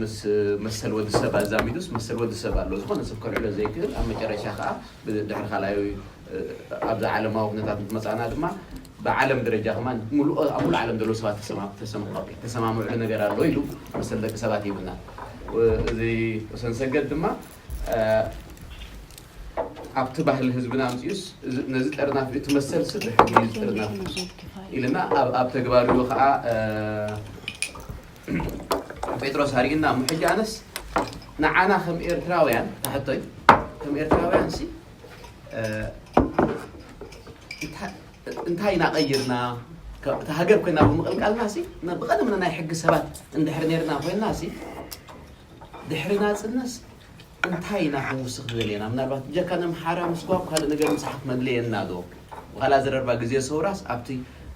ምስ መሰል ወዲ ሰብ ኣዛሚዱስ መሰል ወዲ ሰብ ኣሎ ዝኾነ ሰብ ከልዕሎ ዘይክእል ኣብ መጨረሻ ከኣ ድሕሪ ካልኣይ ኣብዛ ዓለማዊ ኩነታት ምስ መጻእና ድማ ብዓለም ደረጃ ከማን ኣብ ሙሉእ ዓለም ዘሎ ሰባት ተሰማምዑ ነገር ኣሎ ኢሉ መሰል ደቂ ሰባት ይብልና እዚ ሰንሰገድ ድማ ኣብቲ ባህሊ ህዝብና ኣምፂኡስ ነዚ ጥርናፍ እቲ መሰል ስብ ብሕጊ እዩ ዝጥርነፍ ኢልና ኣብ ተግባሪኡ ከዓ ጴጥሮስ ኣርእና እሞ ሕጂ ኣነስ ንዓና ከም ኤርትራውያን ታሕቶይ ከም ኤርትራውያን ሲ እንታይ እናቀይርና እቲ ሃገር ኮይና ብምቕልቃልና ሲ ብቐደምና ናይ ሕጊ ሰባት እንድሕር ነርና ኮይና ሲ ድሕሪ ናጽነስ እንታይ ኢና ክንውስኽ ንደሊ ኢና ምናልባት ብጀካ ነምሓራ ምስጓግ ካልእ ነገር ምጽሓፍ መድለየና ዶ ዋላ ኣዘረርባ ግዜ ሰውራስ ኣብቲ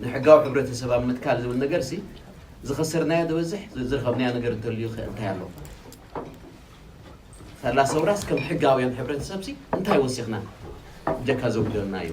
ንሕጋዊ ሕብረተሰብ ኣብ ምትካል ዝብል ነገርሲ ዝኸሰርናዮ ዝበዝሕ ዝረኸብናዮ ነገር እንተልዩ ከ እንታይ ኣሎ ሳላ ሰውራስ ከም ሕጋውያን ሕብረተሰብሲ እንታይ ወሲኽና ብጀካ ዘጉደልናዮ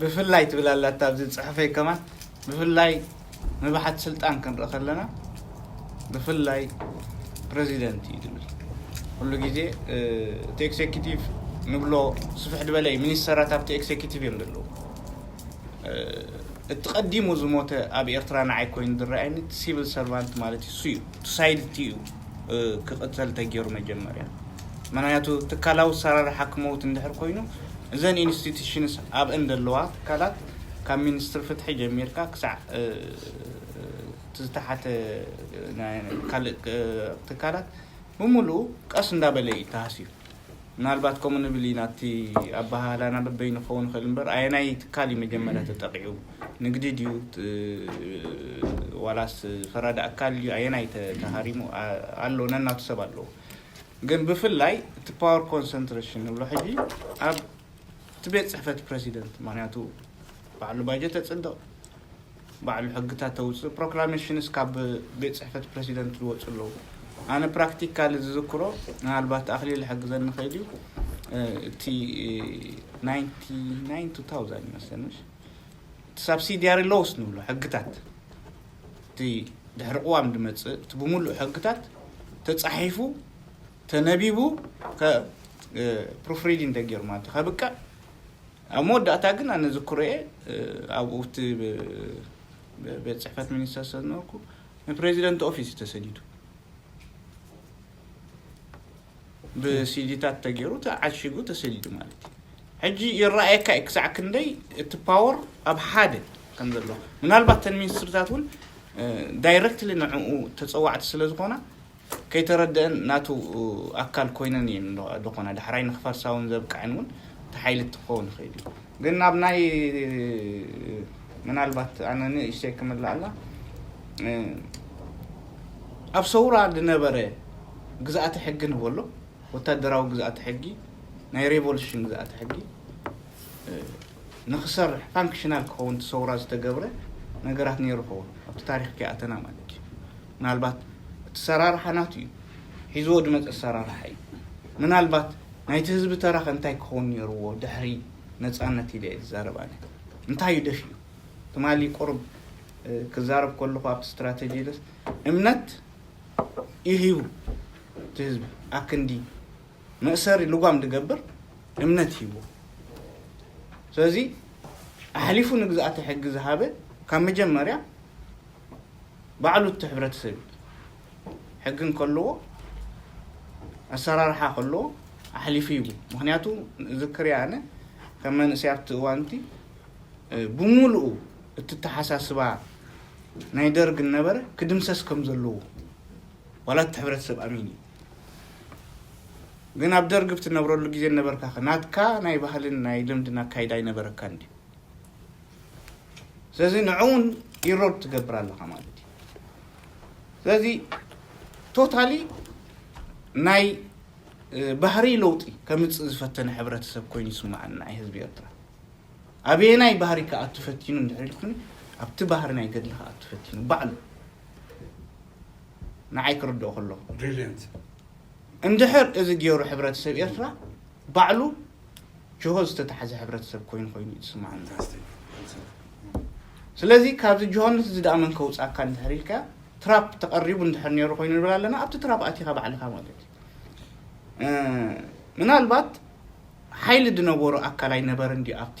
ብፍላይ ትብል ኣላታ ኣብዚ ጽሑፈይ ከማን ብፍላይ ንብሓት ስልጣን ክንርኢ ከለና ብፍላይ ፕረዚደንት እዩ ዝብል ኩሉ ግዜ እቲ ኤክሴኪቲቭ ንብሎ ስፍሕ ዝበለ እዩ ሚኒስተራት ኣብቲ ኤክሴኪቲቭ እዮም ዘለዉ እቲ ቀዲሙ ዝሞተ ኣብ ኤርትራ ንዓይ ኮይኑ ዝረኣየኒ እቲ ሲቪል ሰርቫንት ማለት እዩ ሱዩ እቲ ሳይድቲ እዩ ክቅፀል ተገይሩ መጀመርያ ምክንያቱ ትካላዊ ኣሰራርሓ ክመውት እንድሕር ኮይኑ እዘን ኢንስቲትሽንስ ኣብእን ዘለዋ ትካላት ካብ ሚኒስትሪ ፍትሒ ጀሚርካ ክሳዕ እቲ ዝተሓተ ካልእ ትካላት ብምሉኡ ቀስ እንዳበለ እዩ ተሃስዩ ምናልባት ከምኡ ንብል ኢና እቲ ኣበሃህላና በበይኑ ክኸውን ይኽእል እምበር ኣየናይ ትካል እዩ መጀመርያ ተጠቒዑ ንግዲ ድዩ ዋላስ ፈራዲ ኣካል ድዩ ኣየናይ ተሃሪሙ ኣሎ ነናቱ ሰብ ኣለዎ ግን ብፍላይ እቲ ፓወር ኮንሰንትሬሽን ንብሎ ሕጂ ኣብ እቲ ቤት ፅሕፈት ፕረሲደንት ምክንያቱ ባዕሉ ባጀት ተፅድቕ ባዕሉ ሕግታት ተውጽእ ፕሮክላሜሽንስ ካብ ቤት ጽሕፈት ፕረሲደንት ዝወጹ ኣለዉ ኣነ ፕራክቲካሊ ዝዝክሮ ምናልባት ኣኽሊል ዝሕግዘኒ ኸይድ እዩ እቲ ናይንቲ ናይን ቱ ታውዛንድ ይመስለኒ ምሽ እቲ ሳብሲድያሪ ሎውስ ንብሎ ሕግታት እቲ ድሕሪ ቅዋም ዝመጽእ እቲ ብምሉእ ሕግታት ተጻሒፉ ተነቢቡ ፕሩፍ ሪዲንግ ተገይሩ ማለት ከብቅዕ ኣብ መወዳእታ ግን ኣነ ዝክሮ'የ ኣብኡ እቲ ቤት ጽሕፈት ሚኒስተር ስለ ዝነበርኩ ንፕረዚደንት ኦፊስ እዩ ተሰዲዱ ብሲዲታት ተገይሩ ተዓሺጉ ተሰዲዱ ማለት እዩ ሕጂ ይረኣየካ እዩ ክሳዕ ክንደይ እቲ ፓወር ኣብ ሓደ ከም ዘሎ ምናልባት ተን ሚኒስትርታት እውን ዳይረክትሊ ንዕኡ ተፀዋዕቲ ስለ ዝኾና ከይተረደእን ናቱ ኣካል ኮይነን እየን ደኾና ዳሕራይ ንክፈርሳ ውን ዘብቀዐን ውን እቲ ሓይሊ ክኸውን ይኽእል እዩ ግን ናብ ናይ ምናልባት ኣነ ንእሽተይ ክምልኣላ ኣብ ሰውራ ዝነበረ ግዝኣተ ሕጊ ንበሎ ወታደራዊ ግዝኣተ ሕጊ ናይ ሬቮሉሽን ግዝኣተ ሕጊ ንክሰርሕ ፋንክሽናል ክኸውን እቲ ሰውራ ዝተገብረ ነገራት ነይሩ ኸውን ኣብቲ ታሪኽ ከይኣተና ማለት እዩ ምናልባት እቲ ሰራርሓ ናቱ እዩ ሒዝዎ ድመጸ ሰራርሓ እዩ ምናልባት ናይቲ ህዝቢ ተራ ከ እንታይ ክኸውን ኔርዎ ድሕሪ ነጻነት ኢለ እየ ዝዛረብ ኣነ እንታይ እዩ ደፊኡ ትማሊ ቁርብ ክዛረብ ከለኹ ኣብቲ ስትራተጂ ደስ እምነት ይህቡ እቲ ህዝቢ ኣክንዲ መእሰሪ ልጓም ድገብር እምነት ሂቡ ስለዚ ኣሕሊፉ ንግዝኣተ ሕጊ ዝሃበ ካብ መጀመርያ ባዕሉ እቲ ሕብረተሰብ እዩ ሕጊ እንከለዎ ኣሰራርሓ ከለዎ ኣሕሊፉ ይቡ ምክንያቱ ዝክርያ ኣነ ከም መንእሰይ ኣብቲ እዋንቲ ብምሉኡ እቲ ተሓሳስባ ናይ ደርግ እነበረ ክድምሰስ ከም ዘለዎ ዋላ እቲ ሕብረተሰብ ኣሚን እዩ ግን ኣብ ደርግ ብትነብረሉ ግዜ እነበርካ ናትካ ናይ ባህልን ናይ ልምድን ኣካይዳ ኣይነበረካን ድዩ ስለዚ ንዕውን ኢሮድ ትገብር ኣለኻ ማለት እዩ ስለዚ ቶታሊ ናይ ባህሪ ለውጢ ከምፅእ ዝፈተነ ሕብረተሰብ ኮይኑ ይስማዓኒ ናይ ህዝቢ ኤርትራ ኣበየናይ ባህሪ ክኣቱ ፈቲኑ እንድሕር ኢልኩኒ ኣብቲ ባህሪ ናይ ገድሊ ክኣቱ ፈቲኑ ባዕሉ ንዓይ ክርድኦ ከለኹ እንድሕር እዚ ገይሩ ሕብረተሰብ ኤርትራ ባዕሉ ጅሆ ዝተታሕዘ ሕብረተሰብ ኮይኑ ኮይኑ እዩ ዝስምዓና ስለዚ ካብዚ ጅሆነት እዚ ደኣ መን ከውፃካ እንድሕር ኢልካ ትራፕ ተቐሪቡ እንድሕር ነይሩ ኮይኑ ንብል ኣለና ኣብቲ ትራፕ ኣቲኻ ባዕልኻ ማለት እዩ ምናልባት ሓይሊ ዝነበሮ ኣካል ኣይነበረን ድዩ ኣብቲ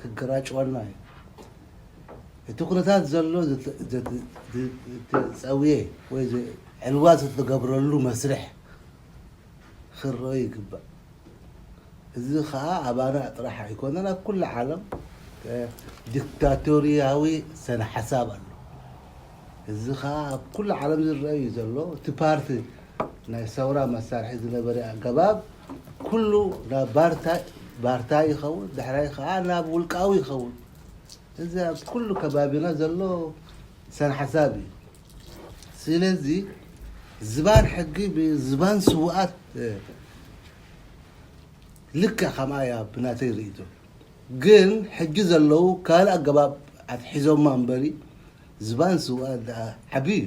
ክገራጭወና እዩ እቲ ኩነታት ዘሎ ዝትፀውየ ወይ ዕልዋ ዝትገብረሉ መስርሕ ክረኦ ይግባእ እዚ ከኣ ኣባና ጥራሕ ኣይኮነን ኣብ ኩሉ ዓለም ዲክታቶርያዊ ሰነ ሓሳብ ኣሎ እዚ ከኣ ኣብ ኩሉ ዓለም ዝረአ እዩ ዘሎ እቲ ፓርቲ ናይ ሰውራ መሳርሒ ዝነበረ ኣገባብ ኩሉ ናብ ባርታ ባርታ ይኸውን፣ ድሕራይ ከኣ ናብ ውልቃዊ ይኸውን። እዚ ኣብ ኩሉ ከባቢና ዘሎ ሰንሓሳብ እዩ። ስለዚ ዝባን ሕጊ ብዝባን ስውኣት ልክዕ ከምኣ እያ ብናተይ ርእይቶ። ግን ሕጂ ዘለዉ ካልእ ኣገባብ ኣትሒዞማ እምበሪ ዝባን ስውኣት ደኣ ዓቢ እዩ።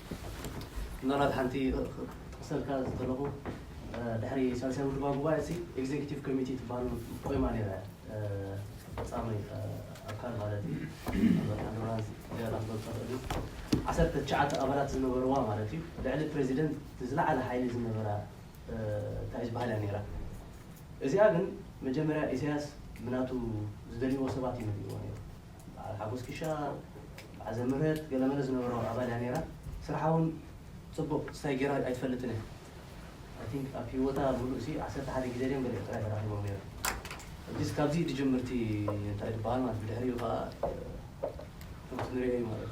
ምናልባት ሓንቲ ክጠቕሰልካ ዝደለኹ ድሕሪ ሳልሳይ ውድባዊ ጉባኤ እቲ ኤግዜኪቲቭ ኮሚቴ ትበሃል ቆይማ ነይራ እያ ፈፃሚ ኣካል ማለት እዩ ምናልባት ሓንዶራን ዝያዳ ክትገልፆ ትኽእል እዩ ዓሰርተ ትሽዓተ ኣባላት ዝነበርዋ ማለት እዩ ልዕሊ ፕሬዚደንት ዝለዓለ ሓይሊ ዝነበራ እንታይ እዩ ዝበሃል እያ ነይራ እዚኣ ግን መጀመርያ ኢሳያስ ብናቱ ዝደልይዎ ሰባት እዩ መዲብዋ ነይሩ በዓል ሓጎስ ክሻ በዓል ዘምህረት ገለመለ ዝነበሮ ኣባል እያ ነይራ ስርሓ ውን ጽቡቅ ስታይ ገይራ ኣይትፈልጥን እያ ኣይ ቲንክ ኣብ ሂወታ ምሉእ ሲ ዓሰርተ ሓደ ግዜ ድዮም ገሊኦም ጥራይ ተራኺቦም ነይሮም ሕጂስ ካብዚ ድጅምር እቲ እንታይ ድበሃል ማለት ብድሕሪኡ ከኣ ከምቲ ንሪኦ እዩ ማለት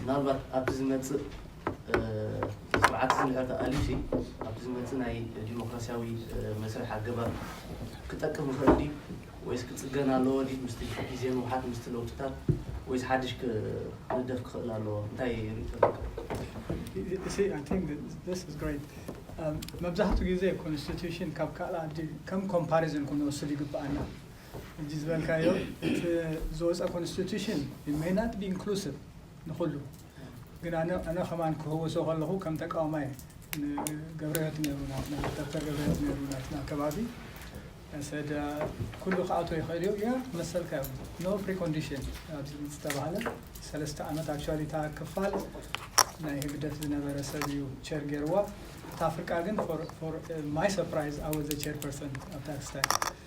ምናልባት ኣብቲ ዝመጽእ እቲ ስርዓት እዚ እንድሕር ተኣልዩሲ ኣብቲ ዝመጽእ ናይ ዲሞክራስያዊ መስርሕ ኣገባብ ክጠቅም ይኽእል ድዩ ወይስ ክጽገን ኣለዎ ድዩ ምስቲ ግዜ ምውሓጥ ምስቲ ለውጥታት ወይስ ሓድሽ ክንደፍ ክኽእል ኣለዎ እንታይ ርእይቶ ኣለካ? መብዛሕትኡ ግዜ ኮንስቲቱሽን ካብ ካልእ ዓዲ ከም ኮምፓሪዝን ክንወስድ ይግበኣና። ሕጂ ዝበልካዮ እቲ ዝወፀ ኮንስቲቱሽን ኢት መይ ናት ቢ ኢንክሉሲቭ ንኹሉ ግን ኣነ ኣነ ከማን ክህወሶ ከለኹ ከም ተቃዋማይ ንገብረህይወት ነይሩ ናትና ዶክተር ገብረህይወት ነይሩ ናትና ከባቢ ሰደ ኩሉ ክኣቶ ይኽእል እዩ ያ መሰልካ እዩ ኖ ፕሪኮንዲሽን ኣብዚ ዝተባህለ ሰለስተ ዓመት ኣክቹዋሊ እታ ክፋል ናይ ህግደፍ ዝነበረ ሰብ እዩ ቸር ገይርዋ እታ ፍርቃ ግን ማይ ሰርፕራይዝ ኣወዘ ቸር ፐርሰን ኣብ ታክስታይ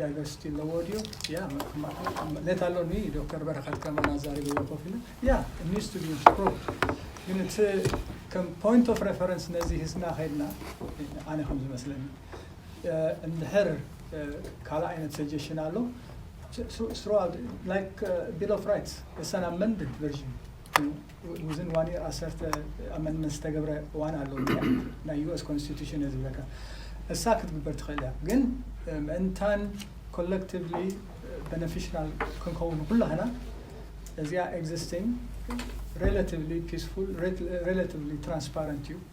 ዳይቨርሲቲ ኣለዎ ድዩ ያ ኔት ኣሎ ዶክተር በረከት ከማን ኣዛሪብዎ ኮፍ ኢሉ ያ ኒድስ ቱ ቢ ኢምፕሩቭድ ግን እቲ ከም ፖይንት ኦፍ ሬፈረንስ ነዚ ሂዝና ከይድና ኣነ ከም ዝመስለኒ እንድሕር ካልእ ዓይነት ሰጀሽን ኣሎ ስሮ ላይክ ቢል ኦፍ ራይትስ እሰን ኣመንድድ ቨርዥን ውዝን ዋን ይር ኣሰርተ ኣመንድመንት ዝተገብረ እዋን ኣሎ ናይ ዩኤስ ኮንስቲቱሽን እየ ዝብለካ እሳ ክትግበር ትኽእል እያ ግን ምእንታን ኮለክቲቭሊ በነፊሽናል ክንከውን ንኩላህና እዚኣ ኤግዚስቲንግ ሬላቲቭሊ ፒስፉል ሬላቲቭሊ ትራንስፓረንት እዩ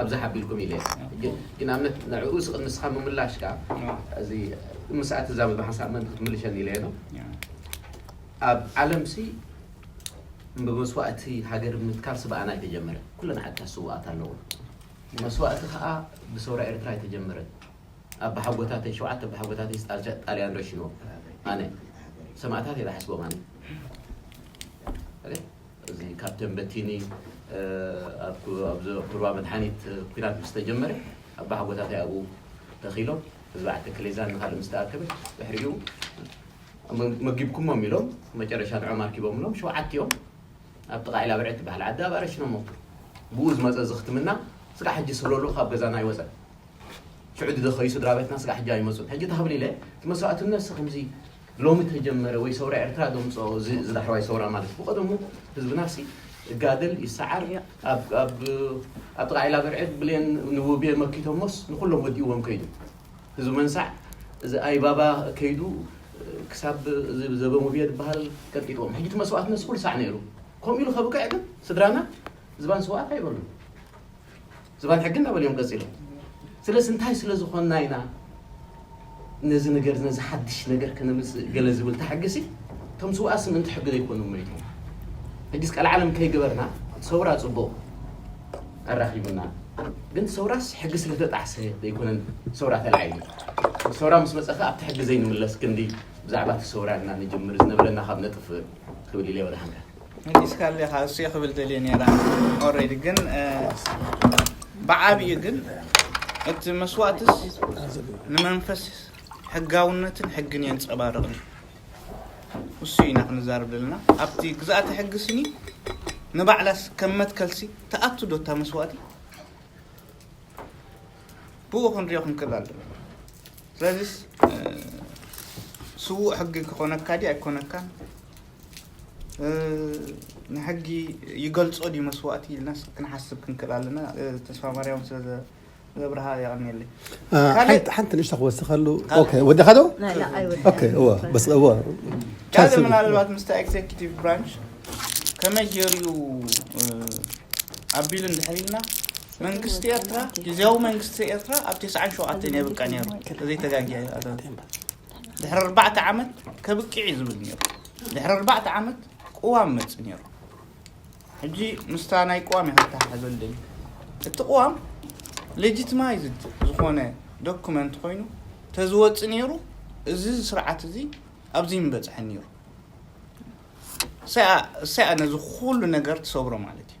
ኣብዚ ሓቢርኩም ኢለ እየ ግን ንኣብነት ንዕኡ ንስኻ ምምላሽካ እዚ ምስኣ ትዛመዶ ሓንሳእ ምእንቲ ክትምልሸኒ ኢለ እየ ኣብ ዓለምሲ ብመስዋእቲ ሃገር ምትካል ስብኣና ኣይተጀመረ ኩለን ዓድታት ስዋኣት ኣለዎ መስዋእቲ ከዓ ብሰውራ ኤርትራ ኣይተጀመረ ኣብ ብሓጎታተይ ሸውዓተ ብሓጎታተይ ጣልያን ረሽንዎ ኣነ ሰማእታት እየ ዝሓስቦም ኣነ እዚ ካብ ተምበቲኒ ኣብ ሩባ መድሓኒት ኩናት ምስ ተጀመረ ኣባሓጎታተይ ኣብኡ ተኺሎም ህዝቢ ዓዲ ክሌዛን ንኻልእ ምስ ተኣከበ ድሕሪኡ መጊብኩሞም ኢሎም መጨረሻ ንዕኦም ኣርኪቦምሎም ሸውዓቲኦም ኣብ ጥቓ ዒላብርዒ ትበሃል ዓዲ ኣብኣ ረሺኖም ሞቱ። ብኡ ዝመጸ ዝኽትምና ስጋዕ ሕጂ ስብለሉ ካብ ገዛና ኣይወጸን። ሽዑ ዝደኸዩ ስድራቤትና ስጋዕ ሕጂ ኣይመጹን። ሕጂ ታህብሊለ እቲ መስዋእትነትሲ ከምዚ ሎሚ ተጀመረ ወይ ሰውራ ኤርትራ ዶ ኣምጽኦ እዚ እዚ ዳሕረዋይ ሰውራ ማለት ብቀደሙ ህዝብናሲ ይጋደል ይሰዓር ኣብ ኣብ ኣብ ጥቃ ዒላ ብርዕድ ብሌን ንውቤ መኪቶሞስ ንኩሎም ወዲእዎም ከይዱ ህዝቢ መንሳዕ እዚ ኣይባባ ከይዱ ክሳብ እዚ ዘበን ውቤ ዝበሃል ቀጥቂጥዎም ሕጂ እቲ መስዋእትነት ኩሉ ሳዕ ነይሩ ከምኡ ኢሉ ከብቅዕ ግን ስድራና ዝባን ስውኣት ኣይበሉን ዝባን ሕጊ እናበሉ እዮም ቀፂሎም። ስለዚ እንታይ ስለ ዝኾንና ኢና ነዚ ነገር ነዚ ሓድሽ ነገር ከነምፅእ ገለ ዝብል እታ ሕጊ ሲ እቶም ስውኣስ ምእንቲ ሕጊ ዘይኮኑ መይቶም ሕጊስ ቃል ዓለም ከይገበርና ሰውራ ፅቡቕ ኣራኺቡና ግን ሰውራስ ሕጊ ስለተጣዕሰ ዘይኮነን ሰውራ ተላዒሉ ሰውራ ምስ መፀ ከዓ ኣብቲ ሕጊ ዘይንምለስ ክንዲ ብዛዕባ እቲ ሰውራ እና ንጅምር ዝነበረና ካብ ነጥፍ ክብል ኢለ ወደሃንካ መሊስካ ኣለኻ እሱ እየ ክብል ደልየ ነይረ ኦሬዲ ግን ብዓብዩ ግን እቲ መስዋእትስ ንመንፈስ ሕጋውነትን ሕግን የንፀባርቕ እዩ እሱ ኢና ክንዛርብ ዘለና ኣብቲ ግዛእቲ ሕጊ ስኒ ንባዕላስ ከም መትከልሲ ተኣቱ ዶ እታ መስዋእቲ ብኡ ክንሪኦ ክንክእል ኣለና ስለዚስ ስዉእ ሕጊ ክኾነካ ድዩ ኣይኮነካን ንሕጊ ይገልጾ ድዩ መስዋእቲ ኢልናስ ክንሓስብ ክንክእል ኣለና ተስፋ ማርያም ስለ ዘብርሃ የቐንየለይ ሓንቲ ንእሽቶ ክወስኸሉ ወዲኻ ዶ ካልእ ምናልባት ምስታ ኤግዜኪቲቭ ብራንች ከመይ ገይሩ ኣቢሉ እንድሕር ኢልና መንግስቲ ኤርትራ ግዜያዊ መንግስቲ ኤርትራ ኣብ 97 የብቃ ነይሩ ተዘይተጋጊያ ድሕሪ ኣርባዕተ ዓመት ከብቅዕ እዩ ዝብል ነይሩ ድሕሪ ኣርባዕተ ዓመት ቅዋም መፅ ነይሩ ሕጂ ምስታ ናይ ቅዋም እየ ከተሓሕዞ ልደሊ እቲ ቅዋም ሌጂትማይዝድ ዝኾነ ዶኩመንት ኮይኑ ተዝወፅ ነይሩ እዚ ስርዓት እዚ ኣብዚ ምበፅሐ ነይሩ እሰያ ነዚ ኩሉ ነገር ትሰብሮ ማለት እዩ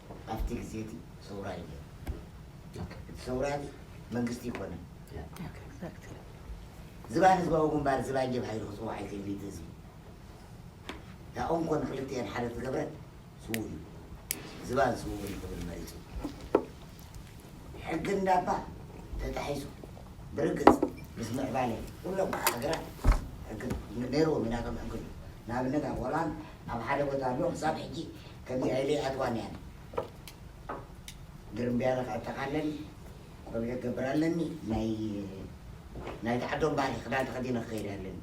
ኣብቲ ግዜ እቲ ሰውራ እዩ ነይሩ። እቲ ሰውራ እዚ መንግስቲ ኣይኮነን። ዝባን ህዝባዊ ግንባር ዝባን ጀብሃ ኢሉ ክፅዋዕ ይኽእል እዩ እቲ ህዝቢ። ያኡ እንኮ ንክልቲኤን ሓደ ዝገበረ ስዉእ እዩ። ዝባን ስውእኒ ክብል መሪፁ። ሕጊ እንዳባ ተጣሒሱ። ብርግፅ ምስ ምዕባለ ኩሎም ከዓ ሃገራት ሕጊ ነይርዎም ኢናቶም ሕጊ ንኣብነት ኣብ ሆላንድ ኣብ ሓደ ቦታ ኣሎ ክሳብ ሕጂ ከምዚ ኣይለይ ኣትዋን እያ ግርምብያለ ክኣ ጠቃለን ቆቢዕ ክገብር ኣለኒ ናይ ናይቲ ዓዶም ባህሊ ክዳን ተከዲነ ክከይድ ኣለኒ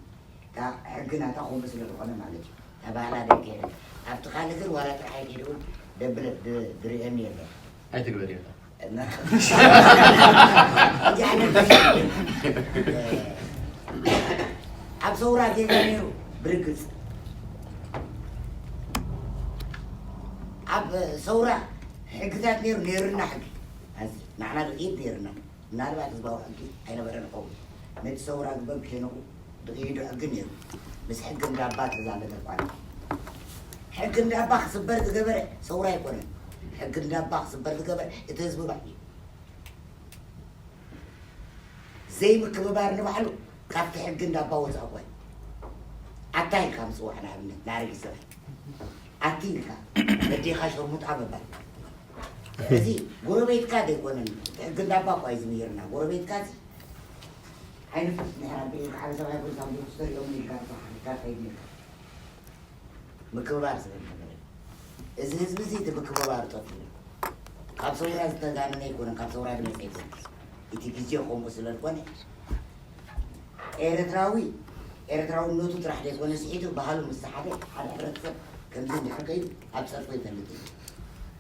እታ ሕጊ ናታ ከምኡ ስለ ዝኮነ ማለት እዩ እታ ባህላ ደይከየደት ኣብቲ ካልእ ግን ዋላ ጥርሓይ ከይደ ውን ደብለ ድርእየኒ የለን ኣይትግበር ኢካ ኣብ ሰውራ ጌጋ ነይሩ ብርግፅ ኣብ ሰውራ ሕግታት ነይሩ ነይርና ሕጊ ኣዚ ንዓና ግን ኢድ ነይርና ምናልባት ህዝባዊ ሕጊ ኣይነበረን ይኸውን ነቲ ሰውራ ዝበል ከይነቑ ብግሂዱ ሕጊ ነይሩ ምስ ሕጊ እንዳባ ተዛመደ እኳ እንተ ሕጊ እንዳባ ክስበር ዝገበረ ሰውራ ኣይኮነን ሕጊ እንዳባ ክስበር ዝገበረ እቲ ህዝቢ ባዕሉ እዩ ዘይምክብባር ንባዕሉ ካብቲ ሕጊ እንዳባ ወፃእ እኳ እዩ ኣታ ኢልካ ምፅዋዕ ንኣብነት ንኣረጊት ሰብኣይ ኣቲ ኢልካ በዴኻ ሸርሙጣ ምባል እዚ ጎረቤትካ ዘይኮነን ሕጊ እንዳባ እኳ እዩ ዝምሂርና ጎረቤትካ እዚ ኣይንፈስ ድሕር ኣቢልካ ዓቢ ሰብኣይ ኮይኑ ሳንዱቕ ተሰሪዑ ውን ኢልካ ንስኻ ሓቲትካ ከይድ ኢልካ ምክብባር ዝብል ነገር የለን እዚ ህዝቢ እዚ እቲ ምክብባር ጠፊኡ እዩ ካብ ሰውራ ዝተጋነነ ኣይኮነን ካብ ሰውራ ዝመፀ ኣይኮነን እቲ ግዜ ከምኡ ስለ ዝኾነ ኤርትራዊ ኤርትራውነቱ ጥራሕ ዘይኮነ ስሒቱ ባህሉ ምስ ሓደ ሓደ ሕብረተሰብ ከምዚ እንድሕር ከይዱ ኣብ ፀርፎ ይፈልጥ እዩ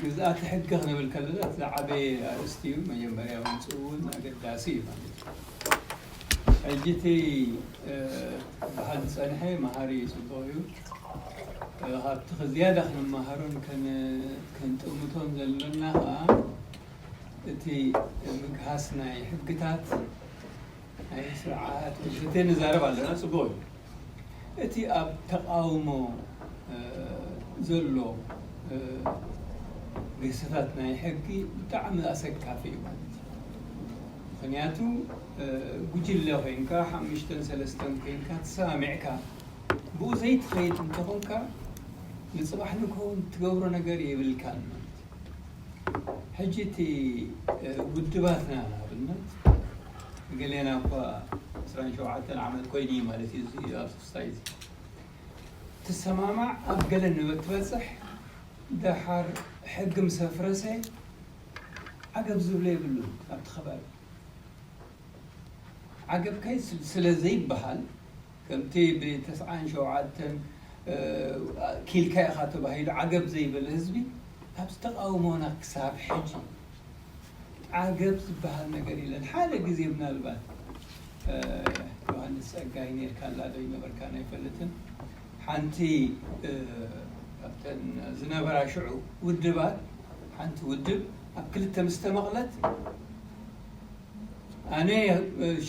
ግዝኣተ ሕገ ክንብል ከለና እቲ ዝዓበየ ኣርእስቲ እዩ መጀመርያ ምምፅኡውን ኣገዳሲ እዩ ማለት እዩ። ሕጂ እቲ ክበሃል ዝፀንሐ መሃሪ እዩ ፅቡቕ እዩ ካብቲ ዝያዳ ክንመሃሮን ክንጥምቶን ዘሎና ከዓ እቲ ምግሃስ ናይ ሕግታት ኣየ ስርዓት ወዲ ፈቴ ንዛረብ ኣለና ጽቡቅ እዩ እቲ ኣብ ተቃውሞ ዘሎ ግህሰታት ናይ ሕጊ ብጣዕሚ ኣሰካፊ እዩ ማለት እዩ ምክንያቱ ጉጅለ ኮይንካ ሓሙሽተን ሰለስተን ኮይንካ ትሰማሚዕካ ብኡ ዘይትከይድ እንተኮንካ ንጽባሕ ንግሆ ትገብሮ ነገር የብልካን ማለት እዩ። ሕጂ እቲ ውድባትና ንኣብነት ገሌና እኳ ዕስራን ሸውዓተን ዓመት ኮይኑ እዩ ማለት እዩ እዚ ኣብ ሶሳይቲ ትሰማማዕ ኣብ ገለ ንበትበጽሕ ደሓር ሕጊ ምስ ኣፍረሰ ዓገብ ዝብሎ የብሉን ኣብቲ ከባቢ ዓገብ ከይ ስለ ዘይበሃል ከምቲ ብ ተስዓን ሸውዓተን ኪኢልካ ኢኻ ተባሂሉ ዓገብ ዘይበለ ህዝቢ ኣብዚ ተቓውሞና ክሳብ ሕጂ ዓገብ ዝበሃል ነገር የለን። ሓደ ግዜ ምናልባት ዮሃንስ ጸጋይ ኔርካላ ዶ ኣይነበርካን ኣይፈልጥን ሓንቲ ካብተን ዝነበራ ሽዑ ውድባት ሓንቲ ውድብ ኣብ ክልተ ምስ ተመቕለት፣ ኣነ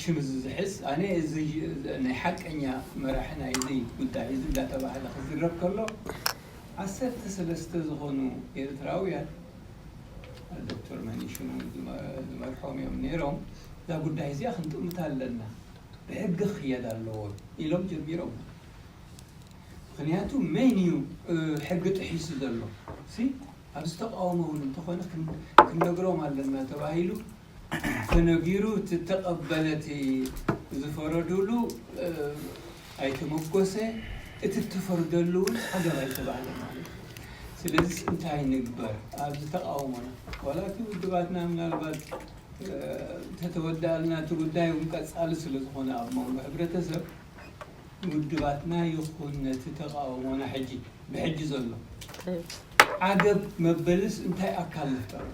ሽም እዚ ዝሕዝ ኣነ እዚ ናይ ሓቀኛ መራሒ ናይዚ ጉዳይ እዚ እንዳተባህለ ክዝረብ ከሎ ዓሰርተ ሰለስተ ዝኾኑ ኤርትራውያን ዶክተር መኒሽን እውን ዝመርሖም እዮም ነይሮም እዛ ጉዳይ እዚኣ ክንጥምታ ኣለና ብሕጊ ክኽየድ ኣለዎ ኢሎም ጀሚሮም ምክንያቱ መን እዩ ሕጊ ጥሒሱ ዘሎ ኣብዚ ተቃውሞ እውን እንተኾነ ክንነግሮም ኣለና ተባሂሉ ተነጊሩ እቲ ተቀበለ እቲ ዝፈረዱሉ ኣይተመጎሰ እቲ ተፈርደሉ እውን ዓገብ ኣይተባህለ ማለት እዩ ስለዚስ እንታይ ንግበር ኣብዚ ተቃውሞና ዋላ እቲ ውድባትና ምናልባት እንተተወደኣልና እቲ ጉዳይ እውን ቀፃሊ ስለዝኾነ ኣብ መንጎ ሕብረተሰብ ውድባትና ይኹን ነቲ ተቃውሞና ሕጂ ብሕጂ ዘሎ ዓገብ መበልስ እንታይ ኣካል ንፍጠረሉ?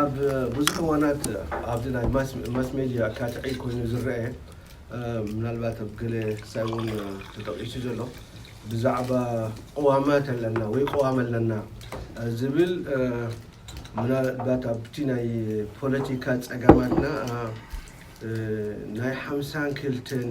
ኣብ ብዙሕ እዋናት ኣብዚ ናይ ማስ ሜድያ ካትዒ ኮይኑ ዝረኣ ምናልባት ኣብ ገለ ክሳብ እውን ተጠቒሱ ዘሎ ብዛዕባ ቅዋማት ኣለና ወይ ቅዋም ኣለና ዝብል ምናልባት ኣብቲ ናይ ፖለቲካ ፀገማትና ናይ ሓምሳን ክልተን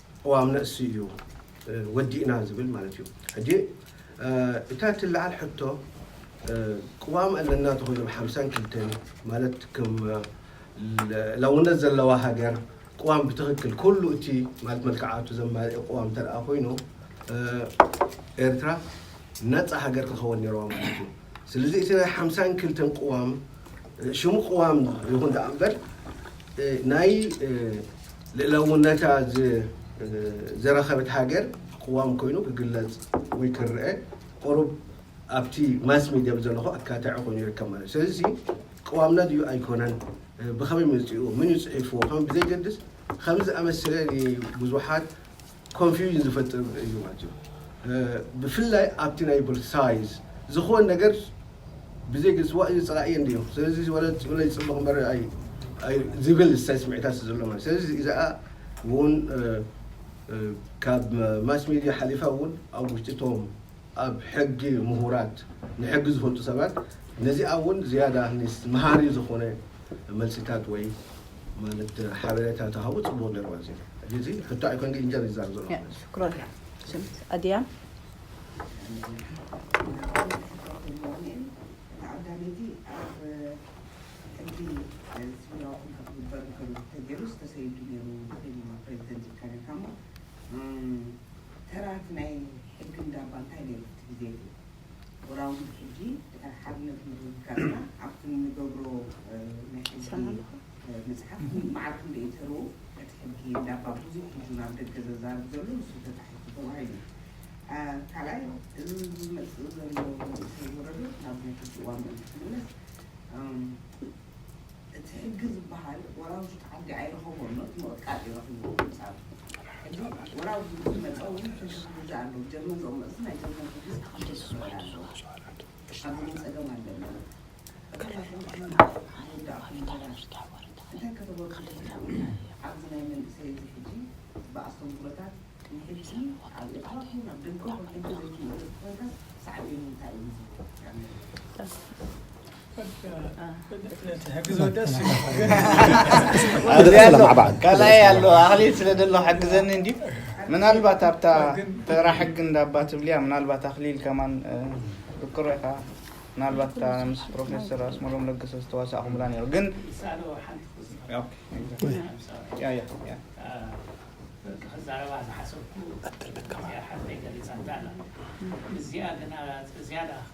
ቅዋም ነእሲ እዩ ወዲእና ዝብል ማለት እዩ። ሕጂ እታ እትለዓል ሕቶ ቅዋም ኣለና ተኮይኑ ብ ሓምሳን ክልተን ማለት ከም ልእላውነት ዘለዋ ሃገር ቅዋም ብትክክል ኩሉ እቲ ማለት መልክዓቱ ዘማልኤ ቅዋም እንተድኣ ኮይኑ ኤርትራ ነጻ ሃገር ክትከወን ኔርዋ ማለት እዩ። ስለዚ እቲ ናይ ሓምሳን ክልተን ቅዋም ሽሙ ቅዋም ይኹን ደኣ እምበር ናይ ልእላውነታ ዘረከበት ሃገር ቅዋም ኮይኑ ክግለፅ ወይ ክረአ ቁሩብ ኣብቲ ማስ ሚድያ ብዘለኹ ኣካታዒ ኮይኑ ይርከብ ማለት እዩ ስለዚ ቅዋምና ድዩ ኣይኮነን ብኸመይ መፂኡ ምን እዩ ፅሒፍዎ ከም ብዘይገድስ ከም ዝኣመሰለ ንብዙሓት ኮንፊውዥን ዝፈጥር እዩ ማለት እዩ። ብፍላይ ኣብቲ ናይ ዩኒቨርሲቲ ሳይዝ ዝኾን ነገር ብዘይ ግልፂ ዋእ ፀላኢ እየ እንድዮ ስለዚ ወለ ፅብለይ ፅብቕ እምበር ዝብል ዝሳይ ስምዒታት ዘሎ ማለት ስለዚ እዚኣ እውን ካብ ማስ ሚድያ ሓሊፋ እውን ኣብ ውሽጢ እቶም ኣብ ሕጊ ምሁራት ንሕጊ ዝፈልጡ ሰባት ነዚኣ እውን ዝያዳ መሃሪ ዝኾነ መልሲታት ወይ ማለት ሓበሬታ ተሃቡ ጽቡቕ ነይሩ ኣዚ እዚ ሕቶ ኣይኮን ግን ኢንጀር ይዛር ዘሎ ሽክሮላ ስምት ኣድያ ተዓዳሚቲ ኣብ ሕጊ ተራት ናይ ሕጊ እንዳባ እንታይ ነይሩ ኣብቲ ግዜ እቲ? ወራውጉድ ሕጂ ድሕሪ ሓርነት ምርግጋጽና ኣብቲ እንገብሮ ናይ ሕጊ ምጽሓፍ ማዕረ ክንደይ እዩ ተርኡ? እቲ ሕጊ እንዳባ ብዙሕ ሕጂ ናብ ደገ ዘዛርብ ዘሎ ንሱ ተጻሒፉ ተባሂሉ እዩ። ካልኣይ እዚ ዝመጽእ ዘሎ መንእሰይ ወረዶ ናብ ናይ ሕጂ እዋን ምእንቲ ክምለስ እቲ ሕጊ ዝበሃል ወራዊ ትሕቲ ዓዲ ኣይረኸቦን ዶ እቲ ምቕጥቃጥ እዩ ረኺብዎ ብንጻሩ ሕጂ ወራዊ ሕጊ ዝመጸ ውን ሕጊ ክግዛእ ኣለዎ ጀርመን ዝኦ መጽ ናይ ጀርመን ሕጊ ዝተኸተል ክኸውን ኣለዎ ኣብዚ ውን ጸገም ኣለና እቶም ናይ ሕጊ ሕንጻጽ ዝወዳእኩም ምሁራት እንታይ ከተበርክቱ ትኽእሉ ኣብዚ ናይ መንእሰይ እዚ ሕጂ ብኣስተምህሮታት ንሕጊ ኣብ ኤርትራ ኹን ኣብ ደገኹን ሕጊ ዘይትምእዘዝ ኮይንካስ ሳዕቤኑ እንታይ እዩ ዝህልዎ? ካልኣይ ኣሎ ኣክሊል ስለ ዘሎ ሓግዘኒ እንዲ ምናልባት ኣብታ ተራ ሕጊ እንዳባ ትብልያ ምናልባት ኣክሊል ከማን ብቅሮ ኢኻ ምናልባት እታ ምስ ፕሮፌሰር ኣስመሮም ለገሰ ዝተዋሳእኹምላ ነይሩ ግን ክዛረባ ዝሓሰብኩ ሓፍተይ ገሊፃታ ኣላ እዚኣ ግና ዝያዳ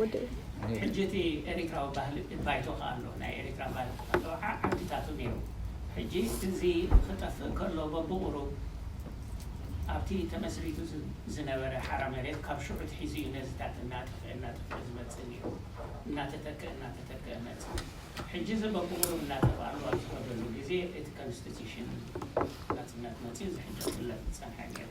ወደይ። ሕጂ እቲ ኤሪትራዊ ባህሊ ባይቶ ከኣ ኣሎ ናይ ኤሪትራ ባይቶ ከኣ ኣሎ ዓዓዲታቱ ኔሩ ሕጂ እዚ ክጠፍእ ከሎ በብቁሩብ ኣብቲ ተመስሪቱ ዝነበረ ሓራ መሬት ካብ ሽዑ ኣትሒዙ እዩ ነዚታት እናጠፍኤ እናጠፍኤ ዝመጽእ ኔሩ እናተተከእ እናተተከእ መጽኡ ሕጂ እዚ በብቁሩብ እናጠፍኣሉ ኣብ ዝኸደሉ ግዜ እቲ ከንስቲቲሽን ናጽነት መጽዩ እዚ ሕጂ ክፍለጥ ዝጸንሐ ኔሩ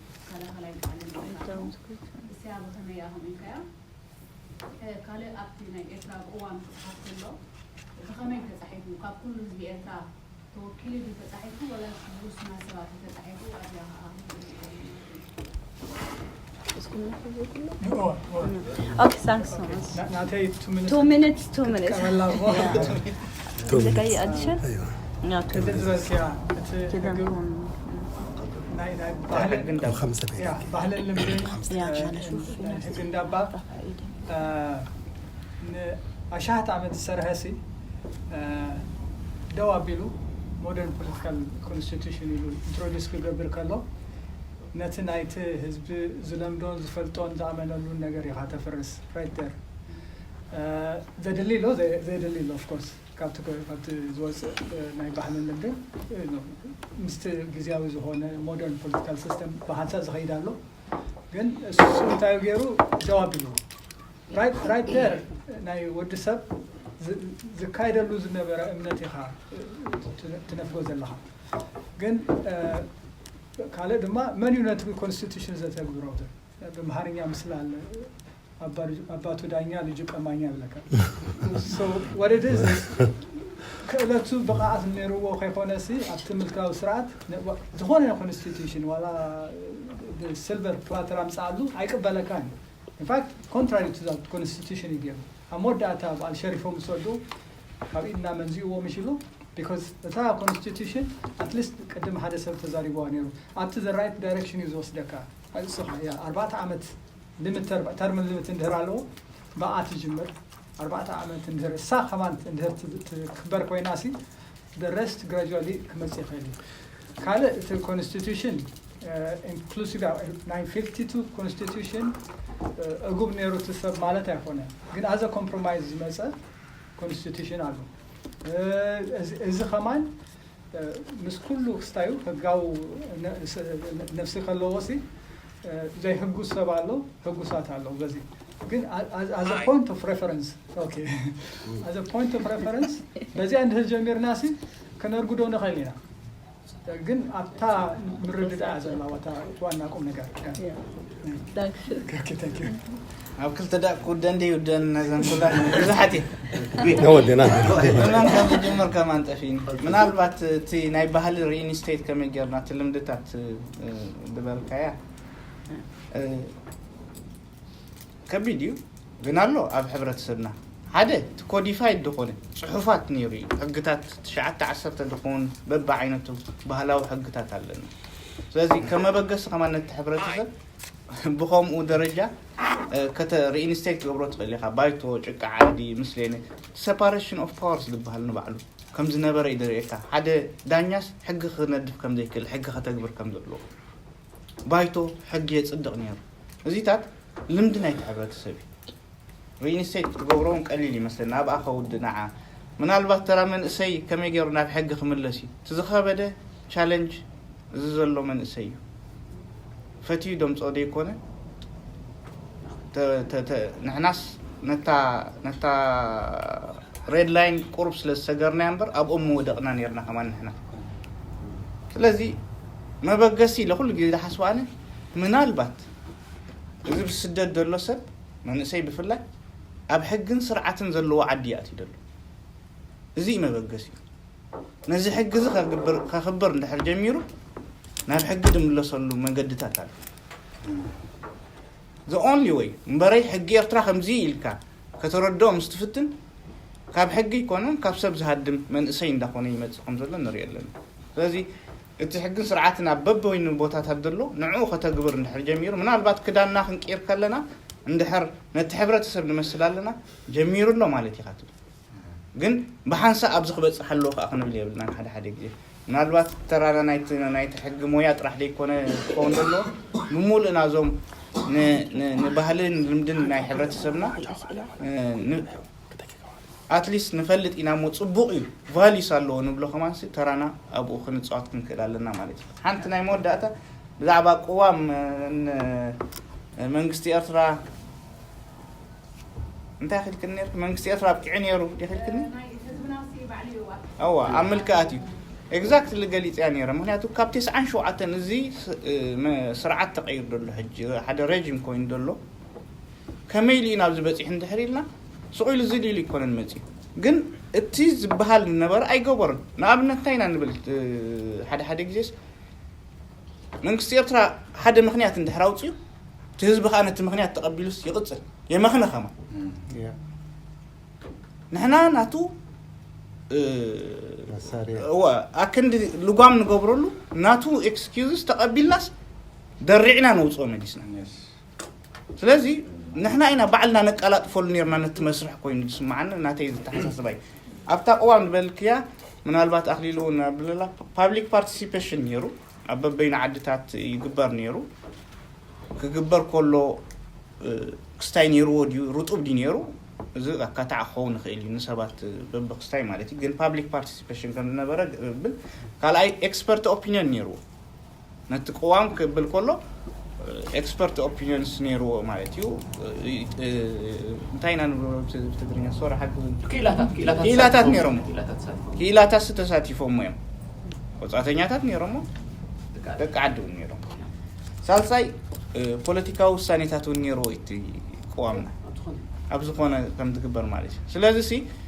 ተኸላኸላይ ባዕሉ ምውሳኹ እስያ ብኸመይ እያ ከምኡ ኢልካያ? ካልእ ኣብቲ ናይ ኤርትራ ቅዋም ክጽሓፍ ከሎ ብኸመይ ተጻሒፉ ካብ ኩሉ ህዝቢ ኤርትራ ተወኪሉ ድዩ ተጻሒፉ ወላስ ብውሱናት ሰባት እዩ ተጻሒፉ ኣብዚኣ ከኣ Two minutes, two minutes. ንኣሽሓት ዓመት ዝሰርሐ ሲ ደው ኣቢሉ ሞደርን ፖለቲካል ኮንስቲቱሽን ኢሉ ኢንትሮዲስ ክገብር ከሎ ነቲ ናይቲ ህዝቢ ዝለምዶን ዝፈልጦን ዝኣመነሉን ነገር ኢኻ ተፍርስ ራይት ደር ዘድሊ ኣሎ ዘየድሊ ኣሎ of course ካብቲ ካብቲ ዝወጽእ ናይ ባህልን ልምድን ምስቲ ግዝያዊ ዝኾነ ሞደርን ፖለቲካል ሲስተም ብሓንሳእ ዝኸይድ ኣሎ ግን እሱ እንታይ ገይሩ ደው ኣቢልዎ ራይት ራይት ደር ናይ ወዲ ሰብ ዝካየደሉ ዝነበረ እምነት ኢኻ ትነፍጎ ዘለኻ ግን ካልእ ድማ መን እዩ ነቲ ኮንስቲቱሽን ዘተግብሮ ብምሃርኛ ምስላ ኣባቱ ዳኛ ልጁ ቀማኛ ይብለካ ክእለቱ ብቕዓት ነይርዎ ከይኮነሲ ኣብቲ ምልካዊ ስርዓት ዝኾነ ይኹን ኢንስቲትዩሽን ዋላ ብሲልቨር ፕላተር ኣምፅኣሉ ኣይቅበለካን እዩ ኢንፋክት ኮንትራሪ ቱ ዛት ኮንስቲቱሽን እዩ ገይሩ ኣብ መወዳእታ በዓል ሸሪፎም ዝሰዱ ካብ ኢድና መንዚእዎ ምሽ ኢሉ ቢካዝ እታ ኮንስቲቱሽን ኣትሊስት ቅድም ሓደ ሰብ ተዛሪቦዋ ነይሩ ኣብቲ ዘራይት ዳይሬክሽን እዩ ዝወስደካ ንስኻ እያ ኣርባዕተ ዓመት ሊምት ተርም፣ ተርም ሊምት እንድህር ኣለዎ ብኣ ትጅምር ኣርባዕተ ዓመት እንድህር እሳ ከማን እንድህር ትክበር ኮይናሲ the rest gradually ክመጽእ ይኽእል እዩ ካልእ እቲ ኮንስቲቱሽን ኢንክሉሲቭ ናይ 52 ኮንስቲቱሽን እጉብ ነይሩ እቲ ሰብ ማለት ኣይኮነ ግን ኣዘ ኮምፕሮማይዝ ዝመፀ ኮንስቲቱሽን ኣሎ እዚ ከማን ምስ ኩሉ ክስታዩ ህጋዊ ነብሲ ከለዎሲ ዘይሕጉስ ሰብ ኣሎ ሕጉሳት ኣለዉ በዚ ግን ኣዘ ፖይንት ኦፍ ሬፈረንስ ኦኬ ኣዘ ፖይንት ኦፍ ሬፈረንስ በዚኣ እንድህር ጀሚርናሲ ከነርጉዶ ንኽእል ኢና ግን ኣብታ ምርድዳእ ዘላዋ ዋና ቁም ነገር ኣብ ክልተ ዳእ ክውደን ድዩ ውደን ነዘን ኩለን ብዙሓት እየን ነወደና መን ከም ዝጅምር ከማን ጠፊኒ ምናልባት እቲ ናይ ባህሊ ሪኢንስቴት ከመይ ጌርና እቲ ልምድታት እ፣ ዝበልካያ እ፣ ከቢድ እዩ ግን ኣሎ ኣብ ሕብረተሰብና ሓደ እቲ ኮዲፋይድ ድኮነ ጽሑፋት ኔሩ እዩ ሕግታት ትሽዓተ ዓሰርተ ድኮን በብዓይነቱ ባህላዊ ሕግታት ኣለና ስለዚ ከም መበገሲ ከማን ነቲ ሕብረተሰብ ብከምኡ ደረጃ ከተ ሪኢንስተይት ትገብሮ ትክእል ኢካ ባይቶ ጭቃ ዓዲ ምስሌነ እቲ ሰፓረሽን ኦፍ ፓወርስ ድብሃል ንባዕሉ ከም ዝነበረ እዩ ደርእየካ ሓደ ዳኛስ ሕጊ ክነድፍ ከም ዘይክእል ሕጊ ከተግብር ከም ዘለዎ ባይቶ ሕጊ የፅድቕ ነይሩ። እዚታት ልምዲ ናይቲ ሕብረተሰብ እዩ። ሪኢንስቴት ክትገብሮ እውን ቀሊል ይመስለኒ ኣብኣ ከውድእ ንዓ ምናልባት ተራ መንእሰይ ከመይ ገይሩ ናብ ሕጊ ክምለስ እዩ እቲ ዝኸበደ ቻለንጅ እዚ ዘሎ መንእሰይ እዩ ፈትዩ ደምፆ ዘይኮነ ንሕናስ ነታ ሬድ ላይን ቁርብ ስለ ዝሰገርናያ እምበር ኣብኦም ምወደቕና ነርና ከማ ንሕና ስለዚ መበገሲ ኢለ ኩሉ ግዜ ዝሓስቦ ኣነ ምናልባት እዚ ብስደት ዘሎ ሰብ መንእሰይ ብፍላይ ኣብ ሕግን ስርዓትን ዘለዎ ዓዲ ይኣትዩ ዘሎ እዚ እዩ መበገሲኡ ነዚ ሕጊ እዚ ከኽብር እንድሕር ጀሚሩ ናብ ሕጊ ድምለሰሉ መገድታት ኣሎ ዘ ኦንሊ ወይ እምበረይ ሕጊ ኤርትራ ከምዚ ኢልካ ከተረድኦ ምስ ትፍትን ካብ ሕጊ ይኮነን ካብ ሰብ ዝሃድም መንእሰይ እንዳኾነ ይመፅእ ከም ዘሎ ንሪኦ ኣለና ስለዚ እቲ ሕግን ስርዓትን ኣብ በበይኑ ቦታታት ዘሎ ንዕኡ ከተግብር እንድሕር ጀሚሩ ምናልባት ክዳንና ክንቅይር ከለና እንድሕር ነቲ ሕብረተሰብ ንመስል ኣለና ጀሚሩ ኣሎ ማለት ኢኻ ትብል ግን ብሓንሳእ ኣብዚ ክበፅሕ ኣለዎ ከዓ ክንብል የብልናን ሓደ ሓደ ግዜ ምናልባት ተራና ናይቲ ናይቲ ሕጊ ሞያ ጥራሕ ዘይኮነ ክኸውን ዘለዎ ብምሉእ ናዞም ንባህልን ልምድን ናይ ሕብረተሰብና ክጠቅቀዋል ኣትሊስት ንፈልጥ ኢና እሞ ጽቡቅ እዩ ቫልዩስ ኣለዎ ንብሎ ከማንሲ ተራና ኣብኡ ክንጻወት ክንክእል ኣለና ማለት እዩ ሓንቲ ናይ መወዳእታ ብዛዕባ ቅዋም መንግስቲ ኤርትራ እንታይ ክልክል ነርክ መንግስቲ ኤርትራ ኣብቂዑ ነይሩ ክልክል ኣዋ ኣብ ምልክኣት እዩ ኤግዛክትሊ ገሊፅያ ነይረ ምክንያቱ ካብ ቴስዓን ሸውዓተን እዚ ስርዓት ተቀይር ዘሎ ሕጂ ሓደ ረጅም ኮይኑ ዘሎ ከመይ ኢሉ እዩ ናብዚ በፂሑ እንድሕር ኢልና ስቕ ኢሉ ዝል ኢሉ ኣይኮነን መፂኡ ግን እቲ ዝበሃል ዝነበረ ኣይገበሩን ንኣብነት እንታይ ኢና ንብል ሓደ ሓደ ግዜስ መንግስቲ ኤርትራ ሓደ ምክንያት እንድሕር ኣውፅኡ እቲ ህዝቢ ከዓ ነቲ ምክንያት ተቐቢሉስ ይቕፅል የመኽነ ከማ ንሕና ናቱ ኣክንዲ ልጓም ንገብረሉ ናቱ ኤክስኪዝስ ተቐቢልናስ ደሪዕና ነውፅኦ መሊስና ስለዚ ንሕና ኢና ባዕልና ነቀላጥፈሉ ነርና ነቲ መስርሕ ኮይኑ ዝስምዓኒ ናተይ ዝተሓሳስባ እዩ ኣብታ ቅዋም ዝበልክያ ምናልባት ኣኽሊሉ እውን ኣብለላ ፓብሊክ ፓርቲሲፔሽን ነይሩ ኣብ በበይኑ ዓድታት ይግበር ነይሩ ክግበር ከሎ ክስታይ ነይርዎ ድዩ ርጡብ ድዩ ነይሩ እዚ ኣካታዕ ክኸውን ይኽእል እዩ ንሰባት በብክስታይ ማለት እዩ ግን ፓብሊክ ፓርቲሲፔሽን ከም ዝነበረ ብል ካልኣይ ኤክስፐርት ኦፒኒዮን ነይርዎ ነቲ ቅዋም ክብል ከሎ ኤክስፐርት ኦፒኒዮንስ ነይርዎ ማለት እዩ እንታይ ኢና ንብሎ ብትግርኛ ሶሪ ሓግዙን ክኢላታት ነይሮሞ ክኢላታት ተሳቲፎሞ እዮም ወፃተኛታት ነይሮሞ ደቂ ዓዲ እውን ነይሮም ሳልሳይ ፖለቲካዊ ውሳኔታት እውን ነይርዎ እቲ ቅዋምና ኣብ ዝኾነ ከም ትግበር ማለት እዩ ስለዚ ሲ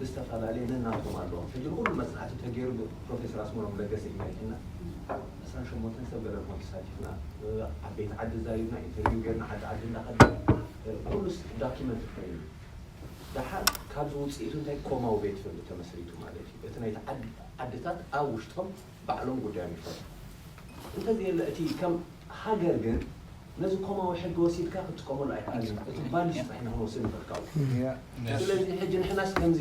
ብዝተፈላለየ ነናቶም ኣለዎም ሕጂ ንኩሉ መጽናዕቲ ተጌሩ ብ ፕሮፌሰር ኣስመሮም ለገሰ ኢና ሊኪና ዕስራን ሸሞንተን ሰብ ገለ ንኮን ተሳቲፍና ዓበይቲ ዓዲ ዛሪብና ኢንተርቪው ጌርና ዓዲ ዓዲ እንዳ ከድና ኩሉስ ዳኪመንትድ ኮይኑ ኣሎ ዳሓር ካብዚ ውጽኢቱ እንታይ ኮማዊ ቤት ፍርዲ ተመስሪቱ ማለት እዩ እቲ ናይቲ ዓዲ ዓድታት ኣብ ውሽጦም ባዕሎም ጉዳዮም ይፈትሑ እንተዘየለ እቲ ከም ሃገር ግን ነዚ ኮማዊ ሕጊ ወሲድካ ክትጥቀመሉ ኣይክኣልን እዩ እቲ ቫልዩስ ጥራሕ ኢና ክንወስድ ንኽእል ካብኡ ስለዚ ሕጂ ንሕናስ ከምዚ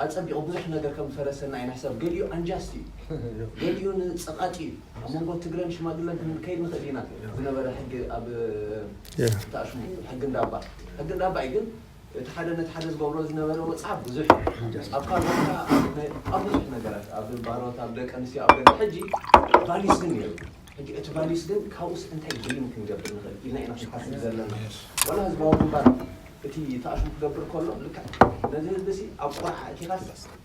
ኣጸቢቑ ብዙሕ ነገር ከም ዝፈረሰና ኢና ሕሳብ ገሊኡ ኣንጃስት እዩ ገሊኡ ንጸቓጢ እዩ ኣብ መንጎ ትግረን ሽማግለን ክንከይድ ንኽእል ኢና ዝነበረ ሕጊ ኣብ ተኣሽሙ ሕጊ እንዳባ ሕጊ እንዳባ እዩ ግን እቲ ሓደ ነቲ ሓደ ዝገብሮ ዝነበረ ወጽዓ ብዙሕ እዩ። ኣብ ካልኦት ኣብ ብዙሕ ነገራት ኣብ ባሮት ኣብ ደቂ ኣንስትዮ ኣብ ገለ ሕጂ ቫሊስ ግን ነይሩ። ሕጂ እቲ ቫሊስ ግን ካብኡስ እንታይ ድሪም ክንገብር ንኽእል ኢልና ኢና ክንሓስብ ዘለና። ዋላ ህዝባዊ ግንባር እቲ ተኣሽሙ ክገብር ከሎ ልክዕ ነዚ ህዝቢ'ሲ ኣብ ቆርዓ ኣእቲኻስ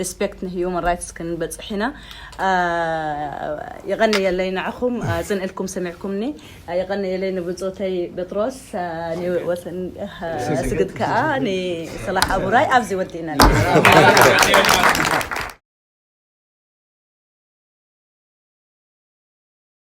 Respect ን Human Rights ክንበጽሕ ኢና የቐንየለይ ንዓኹም ጽን ኢልኩም ሰሚዕኩምኒ የቐንየለይ ንብጾተይ በጥሮስ ን ኣስግድ ከኣ ን ሰላሕ ኣቡራይ ኣብዚ ወዲእና።